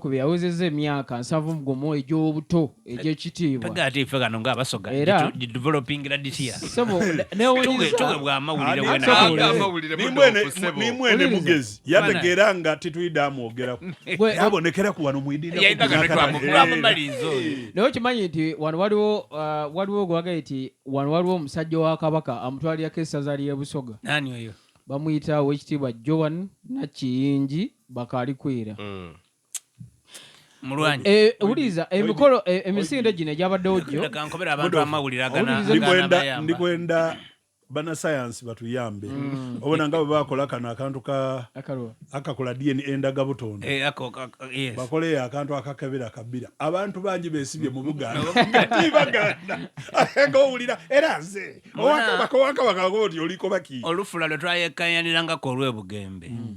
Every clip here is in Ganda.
ku bye yawezezza emyaka nsanvu mu gumu egy'obuto egy'ekitiibwa tagaate ife kano nga abasoga Era- gitu- di developing la this year Ssebo, Tuge- newuliriza tuge bwa amawulire Ani wena asobola? Aga amawulire Nimwene- mudoofu, ssebo. nimwene Wuliriza. mugezi yategeera nga tetuyidde amwogerako Gwe- yabonekera ku wano mwidinda Yayita kano twamu- twamumaliza oyo. naye okimanyi nti wano waliwo ah, waliwo gwagaye nti wano waliwo omusajja wa kabaka amutwalirako essaza ly'ebusoga nani oyo bamuyita owekitiibwa joan nakiyingi bakalikwira mm. mulwanyi eh, wuliriza emikolo eh, emisinde gino egyabaddewo gyo ndi kwenda banasayansi batuyambe mm. obona nga bwebakola kano akantu akakola dna endaga butonda eh, bakoleyo akantu akakebera kabira abantu bangi besibye mu bugandaibaganda ngowulira era nze owakabaka wakabaka oti olikobaki olufula lwetwayekayanirangako olwebugembe mm.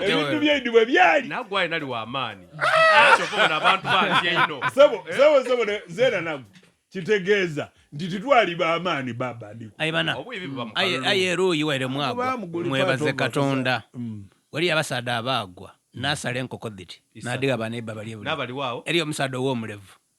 ebintu byendi bwe byali nagwe alina liwa amaanyi kyokobona abantu bangi eino sebo eh? sebo sebo zeena nagwe kitegeeza nti titwali bamaani babandiaye eruuyi were mwagwa mwebaze katonda mm. wali abasaadde abaagwa nasala enkoko dhiti nadiga banaiba bali eriyo omusaadde ow'omulevu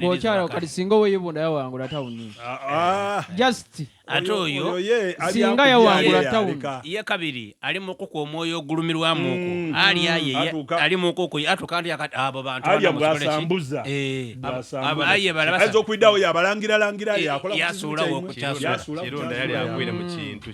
bwokyala kati singa oweyibunda yawangula tawuni ah, ah. just ate oyo singa yawangula tawuni ye kabiri ali mukuku omwoyo ogulumirwamuku mm, alya mm. ye ali mukuku atuka nti abo bantuasambuza eh, aye balabasa okuidawo yabalangira langira eh, yakola yasulawo okukyasula kirunda yali agwire mu kintu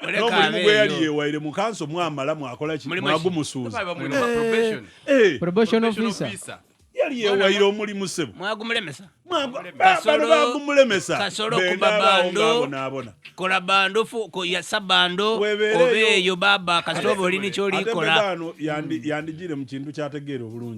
n'omulimu gwe yali yewaire mu kanso mwamala mwakola ki mwagumusuuza eh, eh. probation officer yali yewaire omulimu sebo mwagumulemesa bano bagumulemesa kasolo kubabando kola bando yasa bando obeeyo baba kasolo olini kyolikola yandigire mu kintu kyategeera obulungi